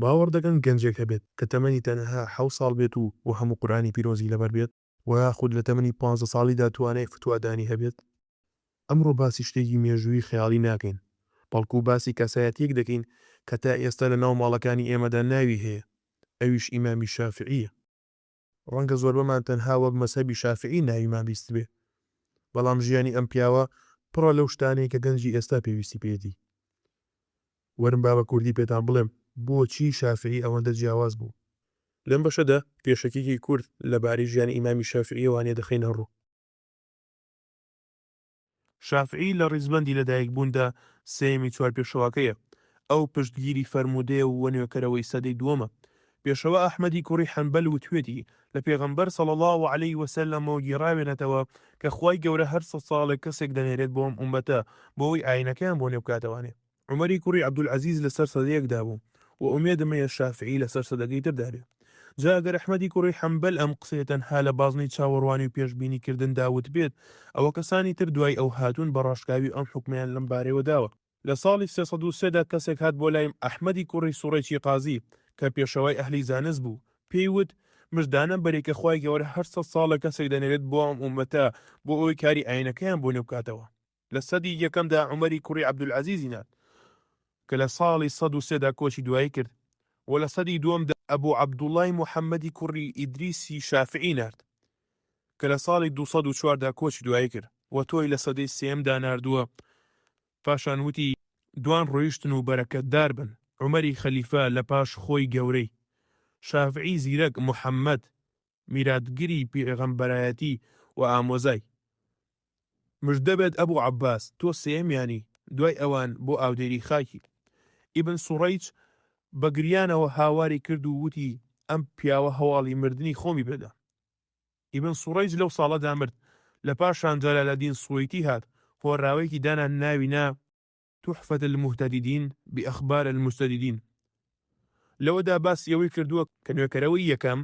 باوەڕ دەکەن گەنجێک هەبێت کە تەمەنی تەنها حەوت ساڵ بێت و و هەموو قورئانی پیرۆزی لەبەر بێت و یاخود لە تەمەنی پانزە ساڵیدا توانای فتوا دانی هەبێت؟ ئەمڕۆ باسی شتێکی مێژوویی خەیاڵی ناکەین، بەڵکو باسی کەسایەتیەک دەکەین کە تا ئێستا لە ناو ماڵەکانی ئێمەدا ناوی هەیە، ئەویش ئیمامی شافعیە. ڕەنگە زۆربەمان تەنها وەک مەزهەبی شافیعی ناویمان بیستبێ، بەڵام ژیانی ئەم پیاوە پڕە لەو شتانەی کە گەنجی ئێستا پێویستی پێیەتی. وەرن با بە کوردی پێتان بڵێم بۆچی شافیعی ئەوەندە جیاواز بوو. لەم بەشەدا پێشەکیی کورت لەبارەی ژیانی ئیمامی شافیعییەوە دەخەینە ڕوو. شافعی لە ڕیزبەندی لەدایکبووندا سێیەمی چوار پێشەواکەیە، ئەو پشتگیری فەرموودەیە و نوێکەرەوەی سەدەی دووەمە. پێشەوا ئەحمەدی کوڕی حەنبەل وتوێتی، لە پێغەمبەر صلی اللە علیە و سلم-ەوە گێڕاوێنەتەوە کە خوای گەورە هەر سەد ساڵێک کەسێک دەنێرێت بۆ ئەم ئوممەتە بۆ ئەوەی ئاینەکەیان بۆ نوێبکاتەوانێ، عومەری کوڕی عەبدولعەزیز لەسەر سەدەیەکدا بوو و ئومێدم هەیە شافیعی لەسەر سەدەکەی تردا بێ. جا ئەگەر ئەحمەدی کوڕی حەنبەل ئەم قسەیە تەنها لە بازنەی چاوەڕوانی و پێشبینی کردندا وتبێت، ئەوە کەسانی تر دوای ئەو هاتوون بە ڕاشکاوی ئەم حوکمەیان لەم بارەیەوە داوە. لە ساڵی سێ سەد و سێ دا کەسێک هات بۆ لای ئەحمەدی کوڕی سوڕێکی قازی کە پێشەوای ئەهلی زانست بوو، پێی وت، مژدانە بەرێ کە خوای گەورە هەر سەد ساڵە کەسێک دەنێرێت بۆ ئەم ئوممەتە بۆ ئەوەی کاری ئاینەکەیان بۆ نوێ بکاتەوە. لە سەدی یەکەمدا عومەری کوڕی عەبدولعەزیزی نان کە لە ساڵی سەد و سێ دا کۆچی دوایی کرد و لە سەدی دووەمدا ئەبو عەبدوڵڵای موحەممەدی کوڕی ئیدریسی شافعی نارد کە لە ساڵی دوو سەد و چوار دا کۆچی دوایی کرد و تۆی لە سەدەی سێیەمدا ناردووە پاشان وتی دوان ڕۆیشتن و بەرەکەتدار بن عومەری خەلیفە لە پاش خۆی گەورەی شافعی زیرەک موحەممەد میراتگری پیغەمبەرایەتی و ئامۆزای. مژدە بێت ئەبو عەباس تۆ سێیەمیانی دوای ئەوان بۆ ئاودێری خاکی. ئیبن سوڕەیج بە گریانەوە هاواری کرد و وتی ئەم پیاوە هەواڵی مردنی خۆمی پێدا. ئیبن سوڕەیج لەو ساڵەدا مرد. لە پاشان جەلالەدین سوەیتی هات هۆراوەیەکی دانا ناوی نا. تحفة المهتددین بأخبار المستددین، لەوەدا باسی ئەوەی کردووە کە نوێکەرەوەی یەکەم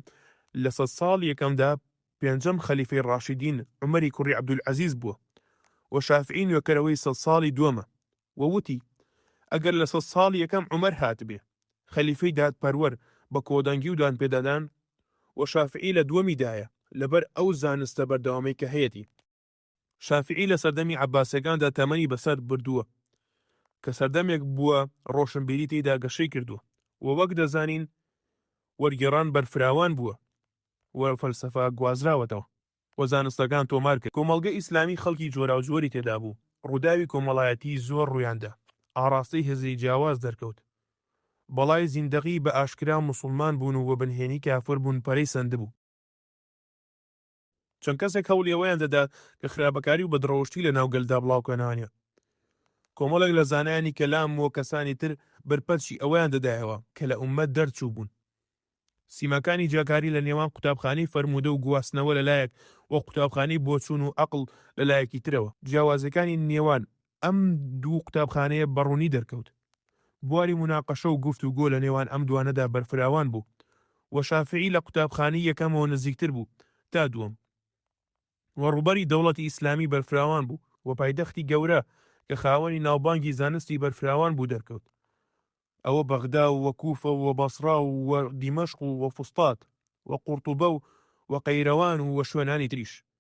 لە سەد ساڵی یەکەمدا پێنجەم خەلیفەی ڕاشیدین عومەری کوڕی عەبدولعەزیز بووە و شافعی نوێکەرەوەی سەد ساڵی دووەمە و وتی، ئەگەر لە سەد ساڵی یەکەم عومەر هاتبێ خەلیفەی دادپەروەر بە کۆدەنگی و دانپێدادان و شافعی لە دووەمیدایە لەبەر ئەو زانستە بەردەوامەی کە هەیەتی. شافیعی لە سەردەمی عەباسیەکاندا تەمەنی بەسەر بردووە، کە سەردەمێک بووە ڕۆشنبیری تێیدا گەشەی کردووە و وەک دەزانین وەرگێڕان بەرفراوان بووە و فەلسەفە گوازراوەتەوە و زانستەکان تۆمار کرد. کۆمەڵگەی ئیسلامی خەڵکی جۆراوجۆری تێدا بوو، ڕووداوی کۆمەڵایەتی زۆر ڕوویان دا، ئاڕاستەی هزری جیاواز دەرکەوت، بەڵای زیندەقی بە ئاشکرا موسوڵمان بوون و وەبنهێنی کافر بوون پەرەی سەندبوو. چەند کەسێک هەوڵی ئەوەیان دەدا کە خراپەکاری و بەدڕەوشتی لەناو گەلدا بڵاوکەنانە کۆمەڵێک لە زانایانی کەلام و کەسانی تر بەرپەرچی ئەوەیان دەدایەوە کە لە ئوممەت دەرچووبوون سیماکانی جیاکاری لە نێوان قوتابخانەی فەرموودە و گواستنەوە لەلایەک و قوتابخانەی بۆچوون و ئەقڵ لەلایەکی ترەوە جیاوازیەکانی نێوان ئەم دوو قوتابخانەیە بە ڕوونی دەرکەوت بواری موناقەشە و گفت و گۆ لە نێوان ئەم دوانەدا بەرفراوان بوو و شافعی لە قوتابخانەی یەکەمەوە نزیکتر بوو تا دووەم و ڕووبەری دەوڵەتی ئیسلامی بەرفراوان بوو و پایتەختی گەورە کە خاوەنی ناوبانگی زانستی بەرفراوان بوو دەرکەوت ئەوە بەغدا و و کوفە و بەسڕا و و دیمەشق و و فوستات و قورتوبە و و قەیرەوان و و شوێنانی تریش